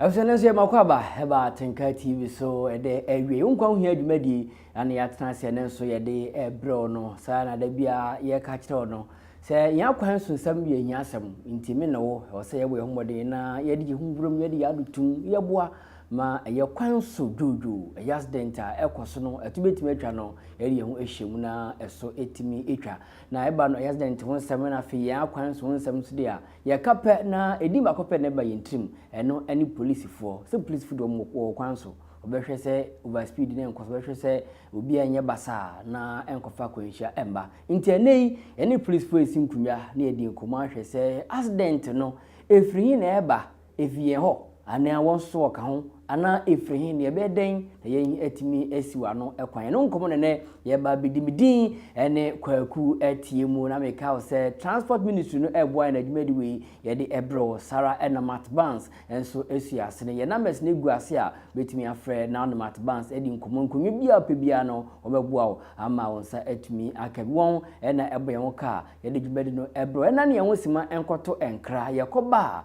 ɛsɛ no nso yɛ mako aba ɛba atenka tv so ɛdɛ awie wo nkwa wohia dwumadie ɛne yɛatena sɛ ne nso yɛde ɛbrɛw no saa na da biara yɛka kyerɛw no sɛ yɛn akwan so nsɛm yɛ hia asɛm nti me ne wo ɛwɔ sɛ yɛbɔ yɛn ho mmɔden na yɛde yɛn ho burom yɛde yɛn adotum yɛboa Ma ɛyɛ kwan so dwoodwoo, ɛyɛ accident a ɛkɔ so no, ɛto bɛtumi atwa no, yɛde yɛn ho ahyɛ mu na ɛso tumi twa. Na ɛba no, ɛyɛ accident ho nsɛm na afei yɛn akwan so ho nsɛm nso deɛ a, yɛka pɛ na ɛdin baako pɛ na ɛba yɛn tirim, ɛno ne polisifoɔ. Sɛ polisifoɔ deɛ wɔn wɔ kwan so, wɔbɛhwɛ sɛ overspeed no nkɔ so, wɔbɛhwɛ sɛ obiara nyɛ basaa na ɛnkɔfa akwanhyia ɛmba. Nti ɛnɛ yi, yɛne polisifoɔ resi nkonnwa na yɛdi nkɔmmɔ ahwɛ sɛ accident no, ɛfiri he na ɛba? Efi yɛn hɔ, anaa wɔn nso wɔka ho, anaa efiri he, na yɛbɛyɛ dɛn na yɛn atumi asiw ano kwan? Ɛno nkɔmmɔ na nnɛ yɛba abɛdi. Me din ne Kwaku Atiemu, na meka wo sɛ Transport Ministry no ɛboa yɛn adwumadi wei yɛde ɛbrɛ wo. Sara na Matt Barnes nso sua ase no. Yɛn numbers no gu ase a wobɛtumi afrɛ na wo ne Matt Barnes adi nkɔmmɔ. Nkonnwa biara wopɛ biara no, wɔbɛboa wo ama wo nsa atumi aka bi. Wɔn na ɛbɔ yɛn ho ka a yɛde dwumadi no ɛbrɛ wo. Ɛnna ne yɛn ho sima nkɔto nkra. Yɛkɔba a,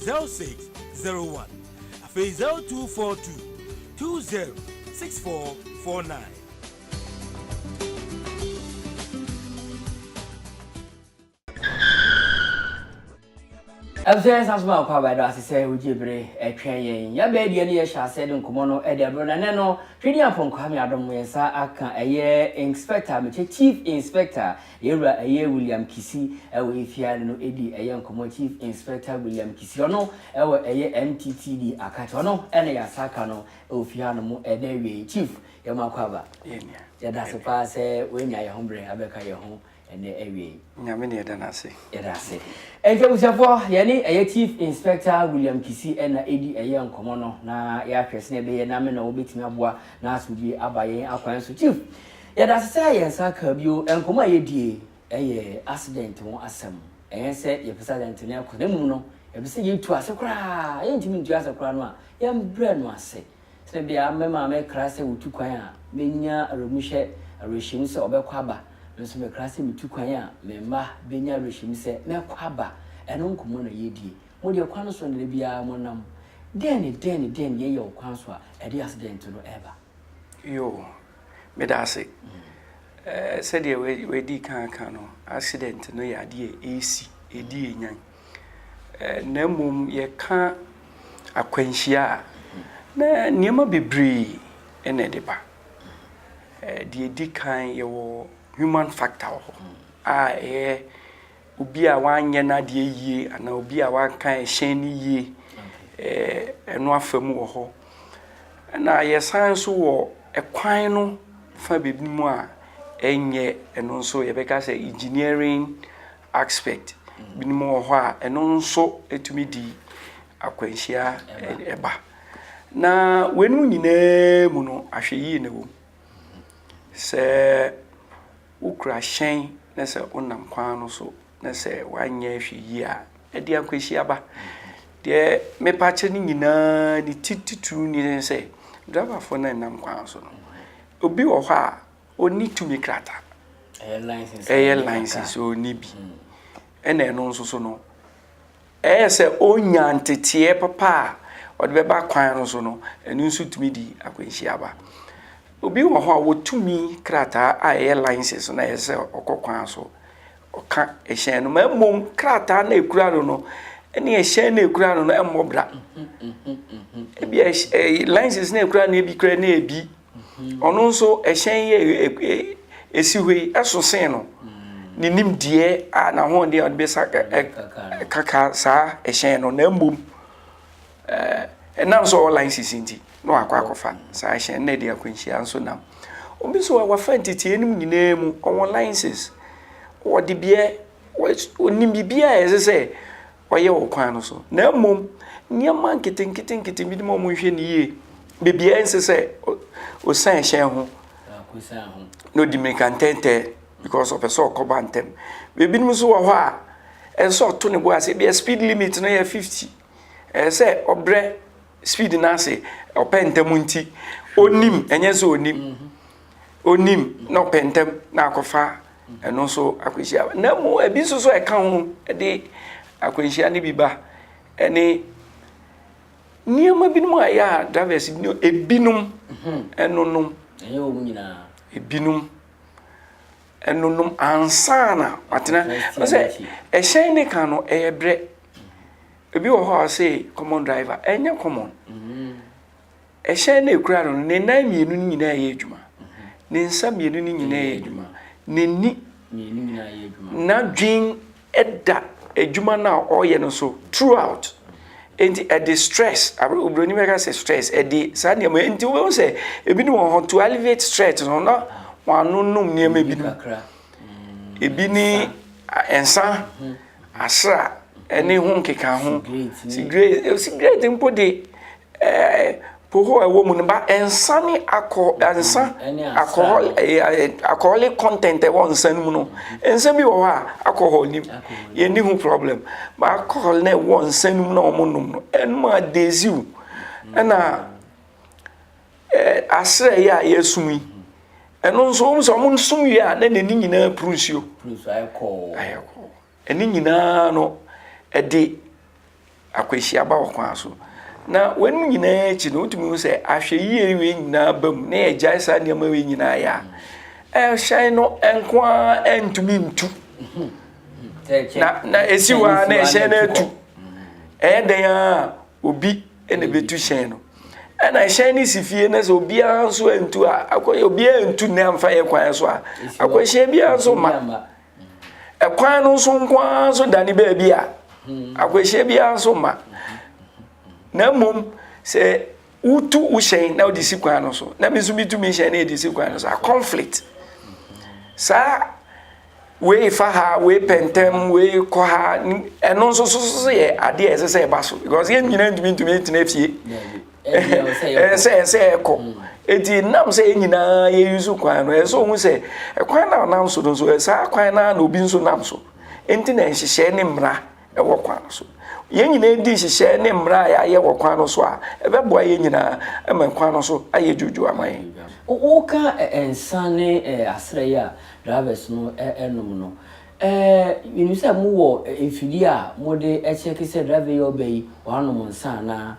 zero six zero one afei zero two four two two zero six four four nine. ɛbusua yɛ nsa so ma nkɔ abae do ase sɛ wogye bere ɛtwɛn yɛn yɛbɛɛ deɛ ne yɛhyɛ aseɛ de nkɔmmɔ no ɛde abere na nɛ no twedi apɔnkɔ ha me adom yɛn nsa aka ɛyɛ inspector mekyɛ chief inspector Yɛn wura ɛyɛ William Kisi ɛwɔ efia ne no edi ɛyɛ nkɔmɔ Chief Inspector William Kisi ɔno ɛwɔ ɛyɛ MTTD Akate ɔno ɛna yasa aka no ɛwɔ fie ha nom ɛdɛ wie yi Chief yɛ mo akɔ aba yɛda se paa sɛ wɛ nya yɛ ho brɛ abɛka yɛ ho ɛnɛ ɛwie yi. Nyame na yɛda no ase. Yɛda ase. Ɛnti abusuafoɔ yɛne ɛyɛ Chief Inspector William Kisi ɛna edi ɛyɛ nkɔmɔ no na yɛ ahwɛ sene ɛbɛyɛ na me na wɔbɛtumi aboa na asomdwie aba yɛn akwan so Chief Yɛda ase sɛ yɛn nsa kaa bio. Nkɔmmɔ a yɛdie yɛ accident ho asɛm. Ɛnyɛ sɛ yɛpɛ sɛ accident no kɔ, na mmom no, yɛpɛ sɛ yɛtu ase koraa. Yɛntumi ntua ase koraa no a, yɛmbrɛ no ase. Sɛdeɛ bia me maame kra sɛ ɔtu kwan a, mɛnya awerɛmuhyɛ, awerɛhyɛmu sɛ ɔbɛkɔ aba. Me nso mekra sɛ metu kwan a, me mma bɛnya awerɛhyɛmu sɛ mɛkɔ aba. Ɛno nkɔmmɔ na yɛdie. Modeɛ kwan no so na da biara monam. Dɛn ne dɛn ne dɛn na yɛyɛ wɔ kwan so a ɛde accident no ba? Yoo. Meda ase. Eh, sɛdeɛ wadi kan aka no, accident no yɛ adeɛ a ɛsi, ɛdi ɛnyan. Eh, na mmom yɛka akwanhyia a, na nneɛma bebree na ɛde ba. Eh, deɛ ɛdi kan yɛwɔ human factor wɔ hɔ a ɛyɛ obi a wanyɛ n'adeɛ yie anaa obi a wanka ɛhyɛn no yie ɛno afa mu wɔ hɔ. Ɛna yɛsan nso wɔ ɛkwan no fa baabi mu a ɛnyɛ ɛno nso yɛbɛka sɛ engineering aspect binom wɔ hɔ a ɛno nso ɛtumi di akwanhyia ɛba na weinom nyinaa mu no ahwɛyie na ɛwɔ mu sɛ Wokura hyɛn na sɛ wonam kwan no so na sɛ woanyɛ hwɛ yie a, ɛde akwanhyia ba. Deɛ mepa kyɛ no nyinaa ne ti titiriw ni ne sɛ, driverfoɔ no a ɛnam kwan so no, obi wɔ hɔ a ɔnni tumi krataa. Ɛyɛ license a ɔnni bi. Ɛna ɛno nso so no, Ɛyɛ sɛ onya nteteɛ papa a ɔde bɛba kwan no so no, ɛno nso tumi de akwanhyia ba. Obi wɔ hɔ a wɔtumi krataa a ɛyɛ license no a ɛyɛ sɛ ɔkɔ kwan so, ɔka ɛhyɛn no ma mmom krataa no a ɛkura no no ne ɛhyɛn no a ɛkura no no mmɔ bra. Ebi license no a ɛkura no ebi kura no ebi Ɔno nso ɛhyɛn yi a esi hɔ yi ɛso sen no ne nimdeɛ a n'ahoɔden a ɔde bɛsa kaka saa ɛhyɛn no na mmom ɛnam sɛ ɔwɔ license nti na wakɔ akɔfa saa ɛhyɛn na ɛde akwanhyia nso nam. Obi nso a wafa ntetee no nyinaa mu ɔwɔ license, ɔwɔ debeɛ, ɔnim biribiara a ɛsɛ sɛ wɔyɛ wɔ kwan no so, na mmom nneɛma nketenketenkete bi ma wɔnhwɛ no yie. Baabi a ɛnsɛ sɛ osian hyɛn ho na ɔdi mmirika ntɛntɛɛ because ɔpɛ sɛ ɔkɔ ba ntɛm. Ebinom nso wɔ hɔ a, ɛsɛ sɛ ɔto ne bo ase, ebia speed limit no yɛ 50, ɛsɛ sɛ ɔbrɛ speed no ase, ɔpɛ ntɛm nti, ɔnnim, ɛnyɛ sɛ ɔnnim. ɔnim na ɔpɛ ntɛm na akɔfa ɛno nso akwanhyia na mu ebi nso so ɛka ho de akwanhyia no bi ba ɛne nneɛma binom a ɛyɛ a drivers binom ebinom mhm. ɛnonom ɛnyɛ wɔn nyinaa ebinom ɛnonom ansana watena ɔsɛ ɛhyɛn ne kan no ɛyɛ brɛ ebi wɔ hɔ a ɔsɛ common driver ɛnyɛ common mhm. Ɛhyɛn no a ɛkura no no, ne nan mmienu no nyinaa yɛ adwuma. Ne nsa mmienu no nyinaa yɛ adwuma. N'ani, n'adwene da adwuma no a ɔreyɛ no so throughout. Enti ɛde stress, Oburoni bɛka sɛ stress, ɛde saa nneɛma, enti wobɛhu sɛ ebinom wɔ hɔ, to alleviate stress no, na wɔn ano nom nneɛma binom. Ebi ne nsa, asra, ne ho nkekaho. Sigaret, sigaret mpo de, alcohol a ɛwɔ mu no ba nsa ne alcohol nsa alcohol alcoholic content a ɛwɔ nsa no mu no. Nsa bi wɔ hɔ a alcohol nni mu, yɛnni ho problem. But alcohol a ɛwɔ nsa no mu na wɔnom no, ɛno ma dazi wo. Ɛnna ɛɛ asrɛeɛ a yɛsom yi, ɛno nso wohu sɛ wɔsom wie a na n'ani nyinaa puru nsuo. Puru nsuo ayɛ kɔɔ. Ayɛ kɔɔ. Ne nyinaa no, ɛde akwanhyia ba ɔkwan so. Na wɔnom nyinaa akyi no, wotumi hu sɛ ahwɛyie wei nyinaa ba mu na yɛgyae saa nneɛma wei nyinaa yɛ a, ɛhyɛn no nko ara ntumi ntu. Na na esi hɔ ara na ɛhyɛn no atu. Ɛyɛ dɛn a obi na ebetu hyɛn no. Ɛna ɛhyɛn no si fie na sɛ obiara nso antu a, akɔ obiara ntu nnɛ amfa yɛ kwan so a, akwanhyia biara nso ma. Ɛkwan no nso nko ara nso da ne baabi a akwanhyia biara nso mma. Na mmom sɛ wotu wo hyɛn na wode si kwan no so na me nso metu me hyɛn na ɛde si kwan no so a conflict. Saa wei fa ha wei pɛntɛm wei kɔ ha ɛno nso so so yɛ adeɛ a ɛsɛ sɛ ɛba so because yɛn nyinaa ntumi ntumi ntena fie ɛsɛ ɛsɛ ɛkɔ mm. eti nam sɛ yɛn nyinaa yɛyi so kwan no ɛsɛ ohun sɛ ɛkwan na ɔnam so no nso ɛsaa kwan na na obi nso nam so nti na nhyehyɛe ne mmara ɛwɔ kwan no so yɛn nyinaa di nhyehyɛe ne mmara a yɛayɛ wɔ kwan no so a ɛbɛboa yɛn nyinaa ɛma kwan no so ayɛ dwodwo ama yɛn. woka nsa ne asrɛ yi a drivers no ɛnom no ɛɛ yɛnim sɛ mowɔ mfidie a mode ɛkyɛke sɛ driver yi ɔbɛ yi wɔanom nsa anaa.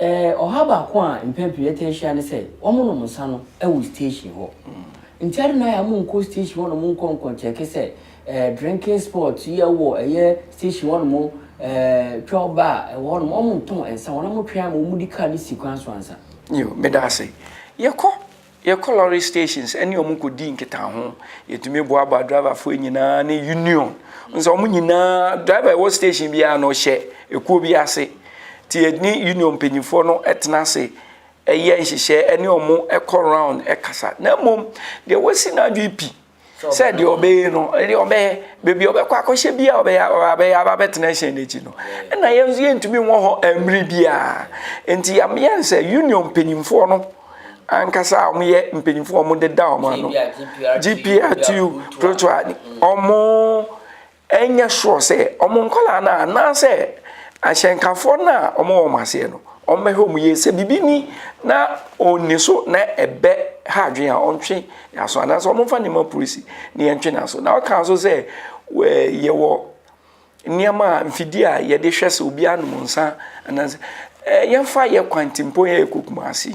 Ɛɛ, ɔhaw baako a mpɛn pii yɛtaa hyia ne sɛ wɔnom nsa no wɔ station hɔ. Nti adɛn na yɛama wɔnkɔ station hɔnom nkɔ nkɔnkyɛke sɛ ɛɛ drinking spot yi a ɛwɔ ɛyɛ station hɔnom ɛɛ twelve bar a ɛwɔ hɔnom wɔntɔn nsa, wɔn a wɔtwɛn ama wɔdi car no si kwan so ansa? Yoo, meda ase. Yɛkɔ Yɛkɔ lɔre stations ne wɔn kɔdi nkitaho. Yɛtumi boaboa driverfoɔ nyinaa ne union. Nso wɔn nyinaa, driver ɛwɔ station biara no ɔhyɛ ekuo bi ase. Ti yɛne union mpanyinfoɔ no tena ase ɛyɛ nhyehyɛ ne wɔn ɛkɔ round ɛkasa. Na mmom deɛ wasi n'adwene pi sɛ deɛ ɔbɛyɛ no deɛ ɔbɛyɛ baabi ɔbɛkɔ akɔhyɛ bi a ɔbɛyɛ ɔbɛyɛ aba bɛtena hyɛn n'akyi no ɛna yɛn nso yɛntumi wɔ hɔ mmiri biara nti yɛn sɛ union mpanyinfoɔ no ankasa a wɔyɛ mpanyinfoɔ a wɔde da wɔn ano gprtu protoa wɔn ɛnyɛ sure sɛ wɔn nkwadaa no anaasɛ ahyɛnkafoɔ no a wɔwɔ wɔn aseɛ no, wɔbɛhwɛ wɔn yie sɛ biribi ni na ɔnni so na ɛbɛ ha adwene a wɔntwe n'aso anaasɛ wɔmfa nneɛma polisi na yɛntwe n'aso. Na ɔka nso sɛ yɛwɔ nneɛma a mfidie a yɛde hwɛ sɛ obi anom nsa anaasɛ yɛmfa yɛ kwantimpɔn yɛ ɛkɔ Kumasi.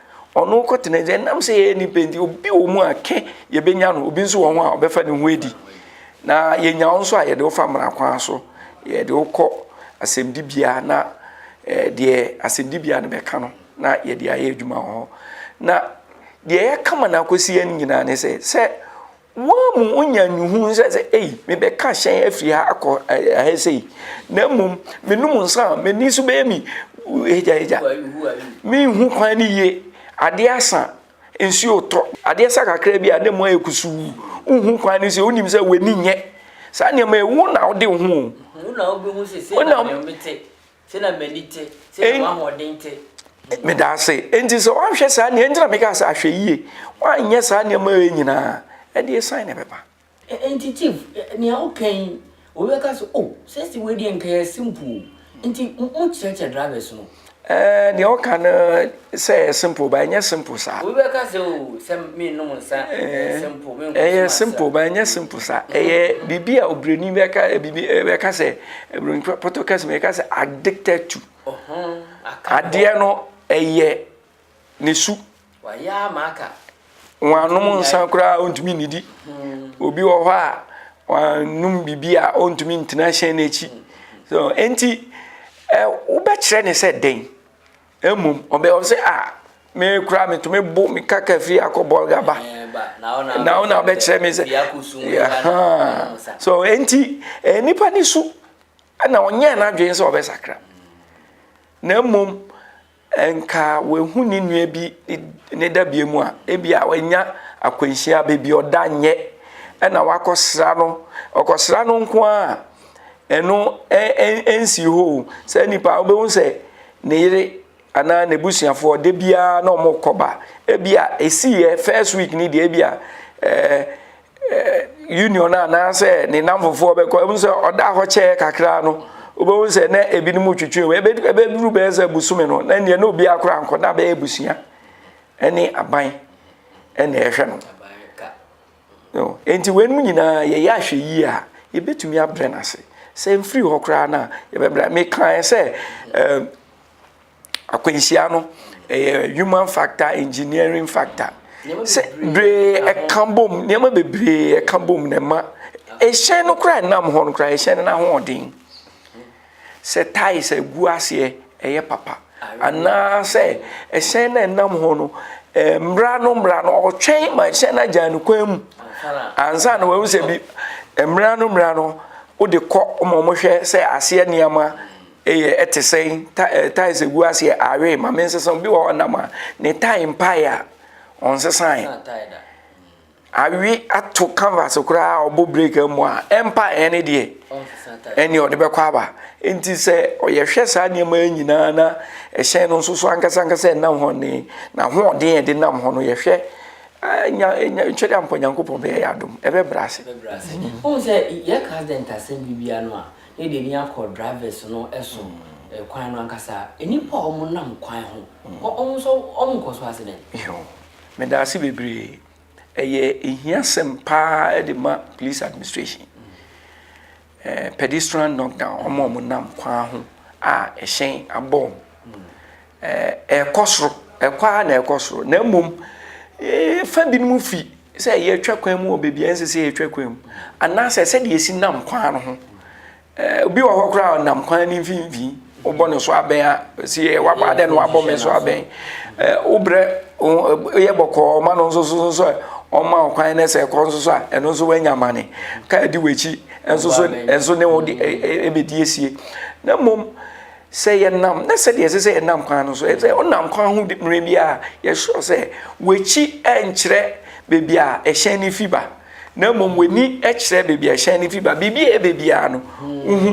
Ɔno kɔ tena sɛ nam sɛ yɛyɛ nipa nti obi wɔ mu a kɛ yɛbɛnya no obi nso wɔ ho a ɔbɛfa ne ho adi na yɛnya wo nso a yɛde wofa mmara kwan so yɛde wokɔ asɛmdibea na eh, deɛ asɛmdibea no bɛka no na yɛde ayɛ adwuma wɔ hɔ na deɛ yɛka ma no akɔsi yɛn nyinaa ne sɛ sɛ Mo ara mo nya nhuhuhu sɛ, sɛ, ei, mebɛka hyɛn afiri ha akɔ ɛhɛ sei, na mmom menom nsa a, m'ani so bɛyɛ me hegyahegya. Menhu kwan no yie. Adeɛ asa, nsuo retɔ. Adeɛ sa kakra bi a, na mu ayɛ kusuu. Wonhu kwan no sei, wonim sɛ w'ani nyɛ saa nneɛma yi, wo na wode wo ho o. Wo na wobɛhu sɛ sei na deɛ mete. Sɛnea m'ani te, sɛnea w'ahoɔden te. Meda ase. Enti sɛ woanhwɛ saa nneɛma, enti na meka sɛ ahwɛ yie, woanyɛ saa nneɛma wei nyinaa, ɛdeɛ san na ɛbɛba. Enti chief, nea woka yi, obi bɛka sɛ, oh, sɛsi wei deɛ nka yɛ simple o. Nti mokyerɛkyerɛ drivers no. Ɛɛ, deɛ woka no. Sɛ ɛyɛ simple ba ɛnyɛ simple saa. Obi bɛka sɛ o oh, sɛ mennom nsa ɛyɛ eh, simple menkɔ ɛyɛ simple ba ɛnyɛ simple saa ɛyɛ biribi a obroni bɛka biribi bɛka sɛ obroni pɔtɔ kɛse bɛka sɛ addicted to adeɛ no ɛyɛ ne su wɔn anom nsa koraa ɔntumi nnidi hmm. obi wɔ hɔ a wɔanom biribi a ɔntumi ntena hyɛn n'akyi so enti wobɛkyerɛ ne sɛ dɛn Mmom, ɔbɛyɛ ɔbɛ sɛ, a me koraa metumi bo meka ka fie akɔ bɔlga ba na wo na wobɛkyerɛ me sɛ so enti eh, nnipa ne su na ɔnyɛɛ n'adwene sɛ ɔbɛsakra na mmom nka wahu ne nua bi ne dabea mu a ebi a wanya akwanhyia baabi ɔda nyɛ ɛna wakɔsra no ɔkɔsra no nko a ɛno ɛnsi hɔ sɛ nnipa wobɛhu sɛ ne yere anaa n'abusuafoɔ da biara na wɔkɔ ba ebi a esiiɛ first week ni deɛ ebi a ɛɛ ɛɛ union anaasɛ ne namfofoɔ bɛkɔ ebi sɛ ɔda hɔ kyɛɛ kakra no wobɛhu sɛ na ebinom twitwi wɔ ebe ebeduru bɛyɛ sɛ busumi no na nea na obi akora nkɔ na bɛyɛ abusua ɛne aban ɛna ɛhwɛ no. Enti weinom nyinaa yɛyɛ ahwɛyie a, yɛbɛtumi abrɛ no ase. Sɛ mfiri hɔ koraa no a, yɛbɛbrɛ. Mekaeɛ sɛ um, akwanhyia no ɛyɛ human factor, engineering factor. Sɛ bere ɛka bom, nneɛma bebree ɛka bom na ɛma ɛhyɛn no koraa ɛnam hɔ no koraa, ɛhyɛn no n'ahoɔden. sɛ tiles a ɛgu aseɛ ɛyɛ papa anaasɛ ɛhyɛn no ɛnam hɔ no mmra no mmra no ɔtwɛn ma ɛhyɛn no agya no kwan mu ansa na wɔahu sɛ bi mmra no mmra no wode kɔ ma wɔhwɛ sɛ aseɛ nneɛma ɛyɛ ɛte sɛn eh, tae sɛ gu aseɛ awe ma mensesa bi wɔ hɔ nam a ne tae mpae a ɔnsesae Awi ato canvas koraa a ɔbɔ break mu a ɛmpa ɛyɛ ne deɛ ɛne ɔde bɛkɔ aba nti sɛ ɔyɛhwɛ saa nneɛma yi nyinaa na ɛhyɛn no nso so ankasa ankasa ɛnam hɔ ne na hoɔden a ɛde nam hɔ no yɛhwɛ nya nya twɛde ampɔ nyankopɔn bɛyɛ yɛ adom ɛbɛbrɛ ase. ohun sɛ yɛ accident asɛm bi bia no a na yɛde ani akɔ drivers no ɛso kwan no ankasa nipa a wɔn nam kwan ho wɔn nso wɔn nkɔ so accident. Meda ase bebree. Ɛyɛ ehiasɛm paa de ma police administration. Eh, pedestrian knockdown, wɔn a wɔnam kwan ho a ɛhyɛn abɔ wɔn. Eh, ɛkɔ soro, ɛkɔ ara na ɛkɔ soro. Na mmom, eh, fa binom fi sɛ yɛtwa kwan mu wɔ baabi a ɛnsɛ sɛ yɛtwa kwan mu, anaasɛ sɛdeɛ yɛsi nam kwan no ho. Obi wɔ hɔ koraa ɔnam kwan no mfimfini wobɔ no so abɛn a si yɛ wabɔ adɛ no wabɔ me so abɛn wobrɛ yɛ bɔkɔɔ ma no nso so nso a ɔma ɔkwan no sɛ ɛkɔ nso so a ɛno nso wanya mane ka adi w'akyi nso so nso ne wo ɛbɛdi asie na mmom sɛ yɛnam na sɛdeɛ ɛsɛ sɛ yɛnam kwan no so ɛsɛ ɔnam kwan ho mmerɛ bi a yɛsoro sɛ w'akyi ɛnkyerɛ baabi a ɛhyɛn no fi ba na mmom w'ani kyerɛ baabi a hyɛn no fi ba biribi a ɛbɛ biara no wohu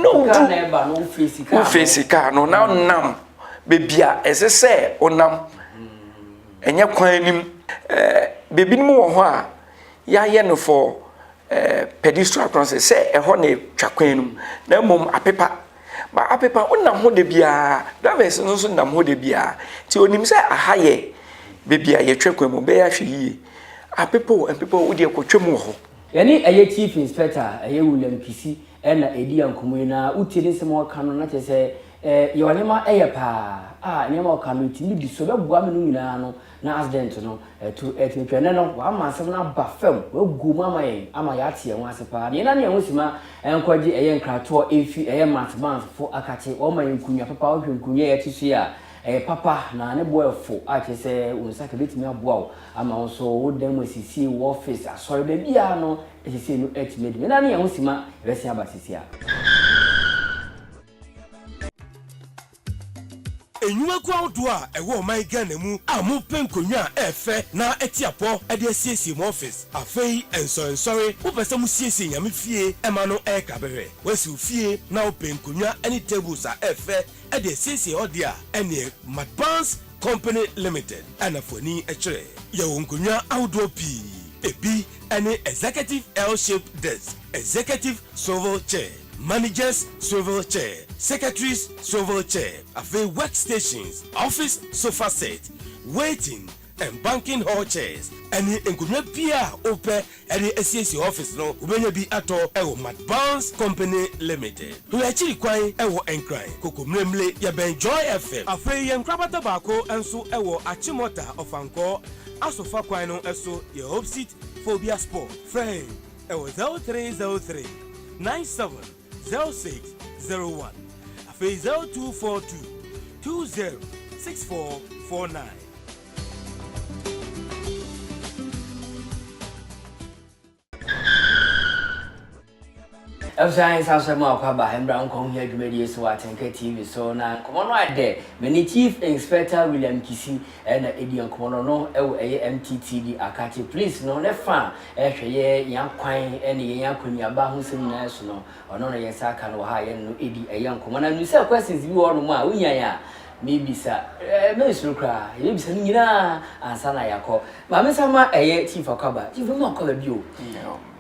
na wodu wofeesi kaa no na nam baabi a ɛsɛ sɛ wonam ɛnyɛ kwan anim baabi no mu wɔ hɔ a yɛayɛ no fɔ pedestrian crossing sɛ ɛhɔ na ɛtwa kwan no mu na mmom apepa Ma apepa wo nam hɔ da biara. Drivers no nso nam hɔ da biara. Nti onim sɛ aha yɛ baabi a yɛtwa kwan mu. Bɛyɛ ahwɛ yie. Apepa o, mpepa o, wo deɛ kɔtwa mu wɔ hɔ. Yɛne ɛyɛ Chief Inspector a ɛyɛ William Kisi na ɛredi yɛn nkɔmmɔ yi na wotie ne nsɛm a ɔreka no na kyerɛ sɛ yɛn ɔnema yɛ paa a nneɛma a ɔka no ɛtumi di so bɛboa me no nyinaa no na accident no atu atumi atwa. Ɛnnɛ no, wama asɛm no aba fam, wagu mu ama yɛn ama yɛate ɛho ase paa. Nea ɛnam yɛn ho sima nkwagye ɛyɛ nkratoɔ efi ɛyɛ Matt Barnes fo akate. Wɔma yɛn nkunnwa papa. Wohwɛ nkunnwa a yɛte so yi a, ɛyɛ papa na ne bo ɛfo a kyerɛ sɛ wo nsa ka betumi aboa wo ama wo nso wo dan mu asiesie, wo office, asɔre, baabiara no asiesie no atumi adi. Nea ɛnam yɛn ho sima ɛbɛsen aba seesei ara. Nnwumakuo ahodoɔ a ɛwɔ ɔman Ghana mu a mopɛ nkonnwa a ɛɛfɛ na ɛteapɔ de asiesie mo office. Afei nsɔrensɔre wopɛ sɛ mosiesie Nyame fie ma no ɛɛka bɛhwɛ. Woasi wo fie na wopɛ nkonnwa ne tables a ɛɛfɛ de asiesie hɔ deɛ a, ɛneɛ Madbanz Company Limited na fa w'ani kyerɛ. Yɛwɔ nkonnwa ahodoɔ pii. Ɛbi ne Executive L-shaped desk, Executive Swivel chair, Managers Swivel Chair, Secretaries Swivel Chair, afei Work Stations, Office Sofa Set, Waiting and Banking Hall Chairs, ɛne nkonnwa biara a wopɛ de asiesie office no, wobɛnya bi atɔ wɔ Matt Barnes Company Limited. Hwɛ akyiri kwan wɔ Nkran, Kokomlemle, yɛbɛn Joy FM. Afei yɛn nkorabata baako nso wɔ Achimota, Ɔfankɔɔ, Asofa kwan no so, yɛ Hope Seat Phobia Spot. Frɛ yɛn. Ɛwɔ zero three zero three nine seven zero six zero one afei zero two four two two zero six four four nine. ɛfisɛ nsa sɛ mu akwaba mbra nkɔ ho hia dwumadie so wɔ atenka tv so na nkɔmmɔ no adɛ mene chief inspector william kisi ɛna ɛdi nkɔmmɔ no no ɛwɔ ɛyɛ mttd akate police no ne fa Hwɛ, yɛ yɛn akwan ne yɛn akɔneaba ho nsɛm nyinaa su no, ɔno na yɛn nsa aka no wɔ ha a yɛne no redi ɛyɛ nkɔmmɔ. Na menim sɛ questions bi wɔ hɔnom a wohia yɛn a, mebisa. Merensuro koraa, yɛbɛbisa no nyinaa ansa na yɛakɔ. Ma mensan ma ɛyɛ Chief Akwaba. Chief, mema Akwaba bio.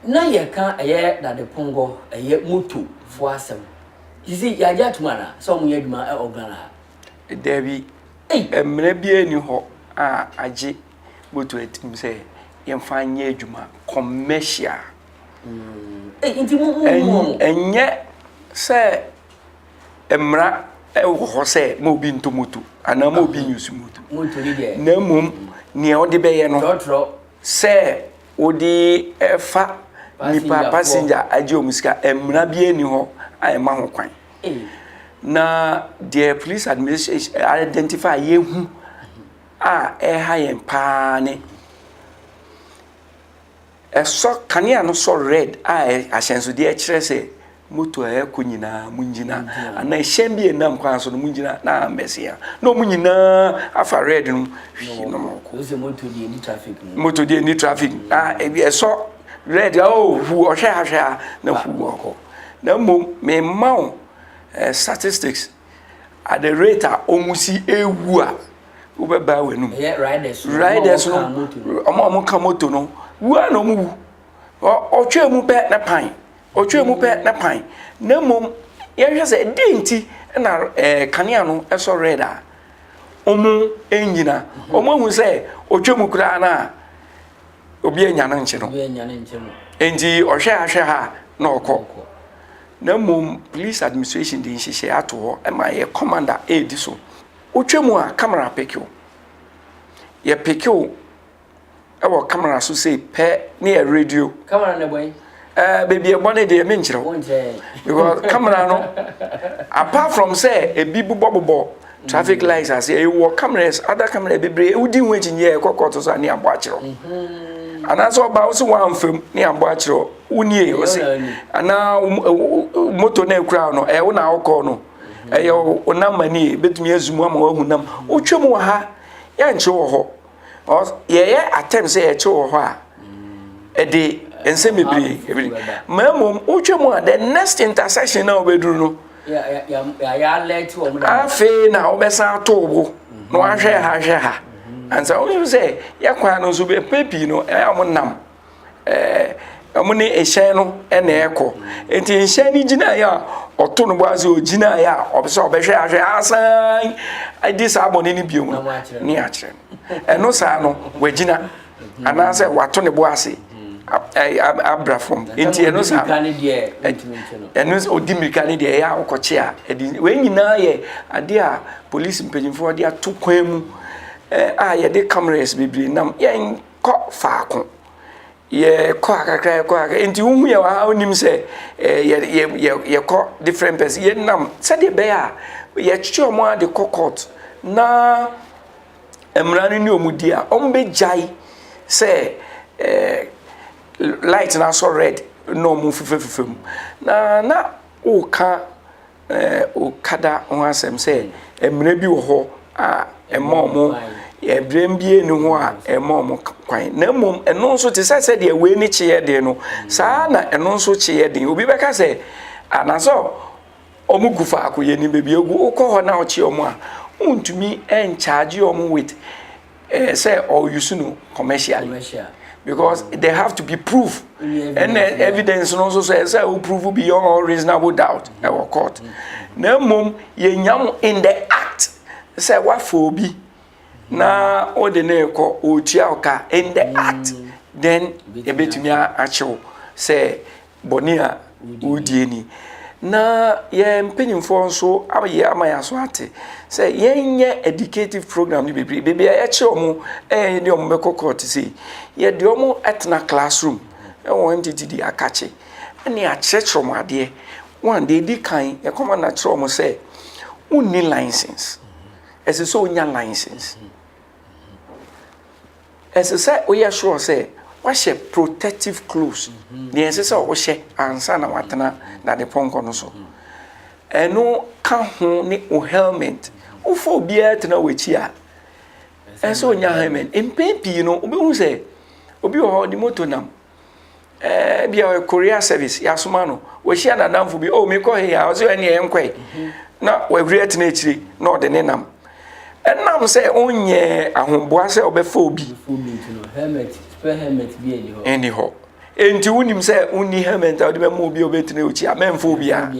Na yɛreka ɛyɛ Dade Pongɔ, ɛyɛ moto foɔ asɛm. Sisi yɛagye atom anaa sɛ wɔyɛ adwuma wɔ Ghana ha? Dabi, mmara biara nni hɔ a agye Motu atim sɛ yɛmfa nyɛ adwuma commercial. Ɛnyɛ sɛ mmara wɔ hɔ sɛ ma obi nto moto anaa ma obi nyusu moto. Na mmom nea ɔde bɛyɛ no sɛ wode ɛfa nipa passenger agye wɔn sika mmara bi ani hɔ a ɛma ho kwan. Na deɛ police administration identify yɛhu a ɛreha yɛn paa ne ɛsɔ kanea no sɔ red a ahyɛnsodeɛ ɛkyerɛ sɛ moto a ɛkɔ nyinaa mo nyina ana ɛhyɛn bi ɛnam kwan so no mo nyina na ambɛsi a na ɔmo nyinaa afa red no hwii no mo kɔ moto deɛ ni traffic moto deɛ ni traffic a ɛsɔ red a oh, ɔhu ɔhwɛ ahwɛ a na hu ɔkɔ na mmom mema wo eh, statistics at the rate a wɔn si ewu a wobɛbaa wɔn anum riders no wɔn a wɔka moto no wu a na wɔn wu ɔtwɛn mu pɛ ne pan ɔtwɛn mu pɛ ne pan na mmom yɛhwɛ sɛ ɛdi nti na ɛɛ kanea no ɛsɔ red a wɔn nyina wɔn ahu sɛ ɔtwɛn mu koraa no a. obi anya no nkye no nti ɔhwɛ ha hwɛ ha na ɔkɔ na mmom police administration de nhyehyɛ ato hɔ ɛma yɛ commander ɛredi so wotwa mu a camera peke o yɛ peke o ɛwɔ camera so sei pɛ ne yɛ radio camera na ɛbɔn Eh, baby ɛbɔ ne deɛ menkyerɛ wo because camera no apart from sɛ ebi bobɔbobɔ traffic mm. lights ase ɛwɔ cameras other camera bebree wodi ho akyinnyeɛ ɛkɔ kɔɔto so a ne abɔ akyerɛ mm-hmm. anaasɛ ɔba wo sɛ woamfam ne abɔ akyerɛ wonie ɔse anaa moto no akura no ɛwo na wokɔɔ no ɛyɛ mm-hmm. wo nam manie bɛtumi azu mu ama woahu nam wotwa mu wɔ ha yɛnkyerɛ wɔ hɔ ɔs yɛyɛ atɛm sɛ yɛkyerɛ wɔ hɔ a ɛde nsɛm bebree ebiri ma mmom wotwa mu a the next intersection na wobɛduru no afei na wobɛsan ato wo mm-hmm. na wahwɛ ha hwɛ ha mm-hmm. ansa wonim sɛ yɛ kwan no nso bɛpɛ pii no ɛyɛ a wɔnam ɛɛ wɔn ne hyɛn no na ɛrekɔ. Enti hyɛn no gyinaeɛ a, ɔto ne bo ase, ɔgyinaeɛ a, ɔpɛ sɛ ɔbɛhwɛ ahwɛ asan adi saa bɔne no bio no, ne akyerɛ no. Ɛno saa no, wagyina anaasɛ wato ne bo ase abra fam. Enti ɛno saa no, ɛno sɛ ɔdi mmirika no deɛ ɛyɛ a ɔkɔkye a, ɛdi wei nyinaa yɛ adeɛ a polisi mpanimfoɔ de ato kwan mu a yɛde cameras bebree nam yɛn kɔ faako. Yɛkɔ ha kakra, yɛkɔ ha kakra. Nti wohu yɛ wɔ ha wonim sɛ ɛɛ yɛ yɛ yɛkɔ different person. Yɛnam sɛdeɛ ɛbɛyɛ a yɛtwe wɔn ara de kɔ court na mmara no ne wɔn di a, wɔbɛgyae sɛ ɛɛ light no asɔ red na wɔfefɛfefɛ mu. Na na woka. Okada ho asɛm sɛ mmara bi wɔ hɔ a ɛma wɔn ɛbrɛm bi ni hɔ a ɛma wɔn kwan na mmom ɛno nso te sɛ sɛ deɛ wei ne kyeɛ den no saa na ɛno nso kyeɛ den obi bɛka sɛ anasɛ wɔn gu faako yɛ nim baabi egu wokɔ hɔ na ɔkye wɔn a wontumi nkyagye wɔn with. Eh, sɛ ɔ use no commercially. Commercial. Because mm. there have to be proof. And the evidence no so say say we prove beyond all reasonable doubt. Mm. Ɛwɔ court. Mm. Na mum ye nyam in the act. Say what for be? Na o de ne ko o tia oka in the mm. act. Then ebetumi a achew say Bɔne a wodie ni. Na yɛn mpanimfoɔ nso ayɛ ama yɛn aso ate sɛ yɛnyɛ educative program no bebree beebi a yɛkyerɛ wɔn ɛyɛ yɛde wɔn bɛkɔ court sei yɛde wɔn atena classroom ɛwɔ wɔn tete di akakye ɛne akyerɛkyerɛ wɔn adeɛ wɔn deɛ edi kan yɛkɔma na kyerɛ wɔn sɛ wonni license ɛsɛ sɛ onya license. Ɛsɛ sɛ woyɛ sure sɛ woahyɛ protective clothes, nea ɛsɛ sɛ wohyɛ ansa na woatena dadepɔnkɔ no so. Ɛno ka ho ne wo helmet. Wofa obiara tena w'akyi a, ɛsɛ sɛ onya helmet. Mpɛn pii no, wobɛhu sɛ obi wɔ hɔ, ɔde moto nam, ɛɛ eh, bia ɔyɛ korea service yɛasoma no wahyia n'adamfo bi o oh, mekɔ he a ɔsɛ ɛneɛ yɛnkɔe na wahuri atena akyire na ɔde ne nam ɛnam sɛ onyɛ ahoboa sɛ ɔbɛfa obi ɛni hɔ enti wonim sɛ wonni helmet a wode bɛma obi a wobɛtena ɔkyi a mɛmfa obiaa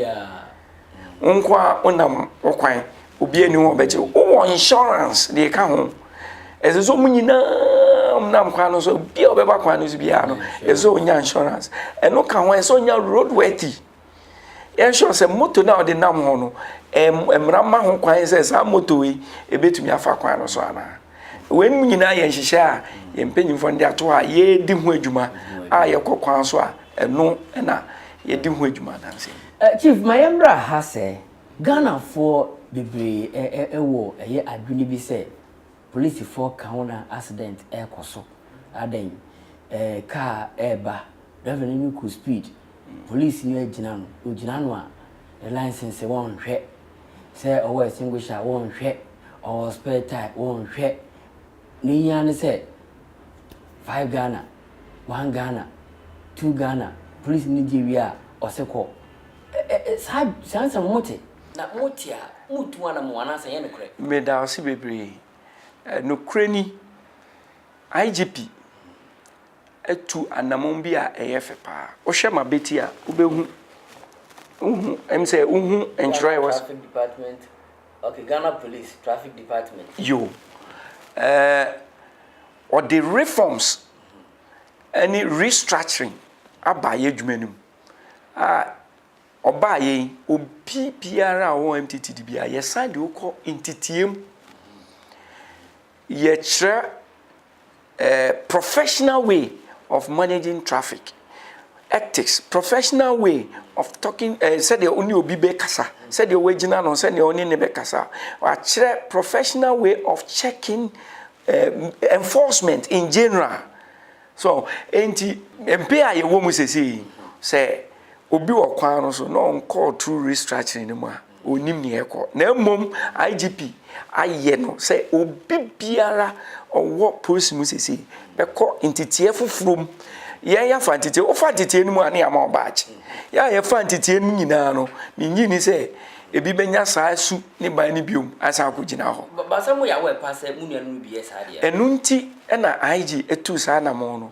Wo nko ara wonam wo kwan, obiara nni hɔ a ɔbɛgye wo. Wowɔ insurance deɛ ɛka ho. Ɛsɛ sɛ wɔn nyinaa nam kwan no so, obiara a ɔbɛba kwan no so biara no, ɛsɛ sɛ ɔnya insurance. Ɛno ka ho, ɛsɛ sɛ ɔnya roadworthy. Yɛnhwɛ sɛ moto no a ɔde nam hɔ no, mmara ma ho kwan sɛ saa moto yi, ɛbɛtumi afa kwan no so anaa. Wei mu nyinaa yɛ nhyehyɛ a yɛn mpanyimfoɔ de ato a yɛredi ho adwuma a yɛkɔ kwan so a ɛno na yɛdi ho adwuma adanse. Chief, ma yɛn mmra ha sɛ Ghanafoɔ bebree wɔ ɛyɛ adwene bi sɛ polisifoɔ ka ho na accident ɛkɔ so. Adɛn? Car ɛɛba, driver no ne kɔ speed, polisi no agyina no, ɔgyina no a ne license wɔnhwɛ. sɛ ɔwɔ extinguisher a wɔnhwɛ, ɔwɔ spare tyre wɔnhwɛ. Nea ohia ara ne sɛ five Ghana, one Ghana, two Ghana, polisini no gye wie a, ɔse kɔ. Ɛ ɛ ɛ saa saa nsɛm no mote? Na mote a, moretu anamɔn anaasɛ ɛnyɛ nokorɛ? Meda wo ase bebree. Nokorɛ ni, IGP. atu anammɔn bi a ɛyɛ fɛ paa. Wohwɛ m'abati a, wobɛhu. Wohu, ɛm sɛ wohu ntwerɛ a ɛwɔ so. Traffic department, okay, Ghana police traffic department. Yo. Ɛɛ, wɔde reforms ne restructuring aba yɛn adwuma no mu a ɔbaeɛ yi, obi biara a ɔwɔ MTTD biara, yɛsan de wo kɔ nteteam. Yɛkyerɛ. professional way of managing traffic, ethics, professional way of talking, eh, sɛdeɛ wo ne obi bɛkasa, sɛdeɛ wɔagyina no, sɛdeɛ wo ne ne bɛkasa. Wakyerɛ professional way of checking eh, enforcement in general. So, enti mpe a yɛwɔ mu sɛsei sɛ obi wɔ kwan no so na ɔnkɔɔ through restructuring no mu a, Ɔnnim nea ɛrekɔ, na mmom IGP ayɛ no sɛ obi biara ɔwɔ polisi mu seesei bɛkɔ nteteɛ foforɔ mu. Yɛn yɛafa nteteɛ, wofa nteteɛ no mu a ne yɛama wo badge. Yɛn a yɛfa nteteɛ no mu nyinaa no, mennye nni sɛ ebi bɛnya saa su ne ban no biom asan akɔgyina hɔ. Ba sɛ moyɛ aware paa sɛ mo nuanom no bi yɛ saa deɛ a? Ɛno nti na IG tuu saa anammɔn no.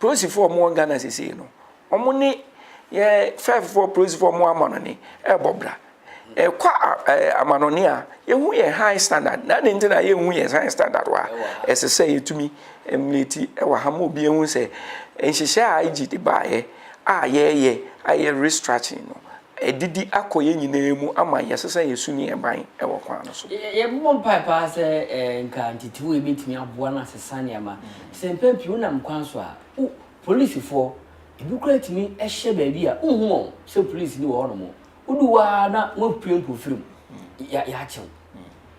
Polisifoɔ a wɔwɔ Ghana sesei no, wɔn ne yɛ fɛɛfefoɔ polisifoɔ a wɔwɔ amanɔne ɛrebɔ bra. Ɛkɔ amanɔne a, yɛhu yɛ high standard. Na ne nti na yɛhu yɛ high standard wɔ ha. Ɛsɛ sɛ yɛtumi mmleti wɔ ha ma obi ahu sɛ nhyehyɛ a IG de baeɛ a yɛreyɛ a ɛyɛ restructuring no, Adidi akɔ yɛn nyinaa mu ama yɛse sɛ yɛsu ne yɛn ban wɔ kwan no so. Yɛbɔ mpae paa sɛ nka ntetewmu yi betumi aboa na asesa nneɛma. Sɛ mpɛn pii wonam kwan so a, wo polisifɔɔ, ebi koraa tumi hyɛ baabi a wonhu wɔn sɛ polis bi wɔ hɔ nom. Wodu hɔ ara na wɔapue mpofirim, yɛakye wo.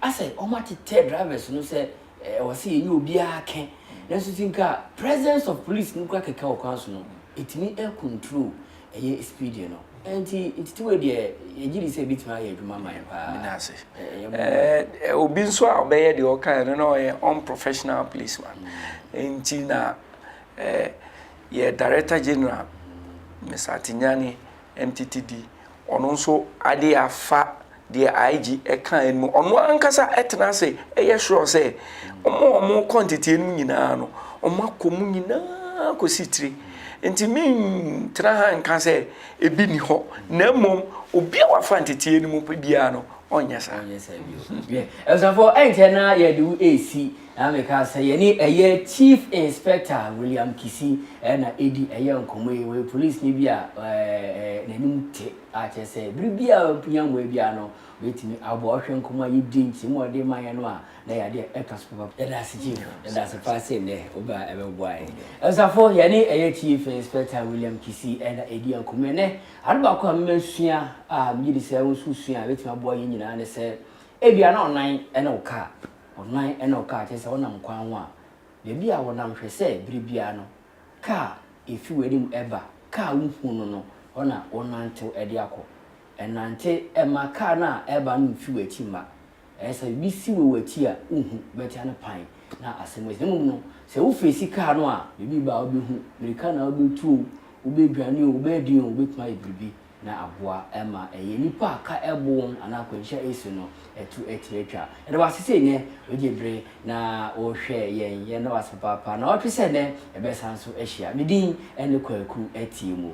Asɛ wɔatetɛ drivers no sɛ ɛwɔ sɛ yɛnyɛ obiara kɛ. Nanso sɛ nka presence of police no koraa kɛkɛ wɔ kwan so no, etumi control ɛyɛ Espidio no. Enti ntetewmu yi deɛ, yɛgye di sɛ ɛbɛtumi ayɛ adwuma ama yɛn paa. Meda ase. Ɛyɛ mmoa. Ɛ, obi nso a ɔbɛyɛ deɛ ɔkaeɛ no, na ɔyɛ unprofessional policeman. Enti na ɛ, yɛ Director General, Mr. Atinyane, MTTD, ɔno nso adeɛ afa Deɛ IG kaeɛ no, ɔno ankasa tena ase yɛ sure sɛ wɔn a wɔkɔ nteteɛ no mu nyinaa no, wɔakɔ mu nyinaa kɔsi tire. Nti mentena ha nka sɛ ebi nni hɔ, na mmom obi a wafa nteteɛ no mu pɛ biara no, ɔnyɛ saa. Ɔnyɛ saa bio. Hwɛ, abusuafoɔ, ɛnkyɛ na yɛde wo resi, na meka sɛ yɛne ɛyɛ Chief Inspector William Kissi na ɛredi ɛyɛ nkɔmmɔ yi. Ɔyɛ polisini bi a ɛɛ, n'anim te. a kyerɛ sɛ bere biara a ohia mmoa biara no, obetumi aboa. Wohwɛ nkɔmmɔ a yedii, nkyerɛmu a wɔde maa yɛn no a, na ɛyɛ ade a ɛka so papa. Yɛda ase Chief. Yɛda ase paa sɛ nnɛ wobaa ɛbɛboa yɛn. Abusafo, yɛne ɛyɛ Chief Inspector William Kissi na edi nkɔmmɔ ɛnnɛ. Ade baako a me masua a megye di sɛ wo nso wusua a ebetumi aboa yɛn nyinaa ne sɛ, ebia na ɔnan ne wo kaa, ɔnan ne wo kaa, kyerɛ sɛ wonam kwan ho a, baabi a wonam hwɛ sɛ bere biara no Ka a efi w'anim ba, ka a wuhu no no, hɔ na wonantew de akɔ. Nante mma kar no a ɛreba no mfi w'akyi mma. Ɛyɛ sɛ biribi si wɔ w'akyi a wuhu, wobɛtra no pan na asɛm asi. Na mmom no, sɛ wofeesi kar no a, biribi ba a wubehu. Mmirika na wubetu oo, wobedwane oo, wobɛden oo, wubetumi ayɛ biribi. na aboa ma ɛyɛ nnipa a ka ɛbo wɔn anaa akwanhyia ɛsi no ɛto atiri atwa. Yɛda wo ase sɛ nnɛ wogye bere na wohwɛ yɛn. Yɛn da wo ase papaapa. Na ɔtwe sɛ nnɛ yɛbɛsan so ahyia. Me din ɛne Kwaku Atiemuo.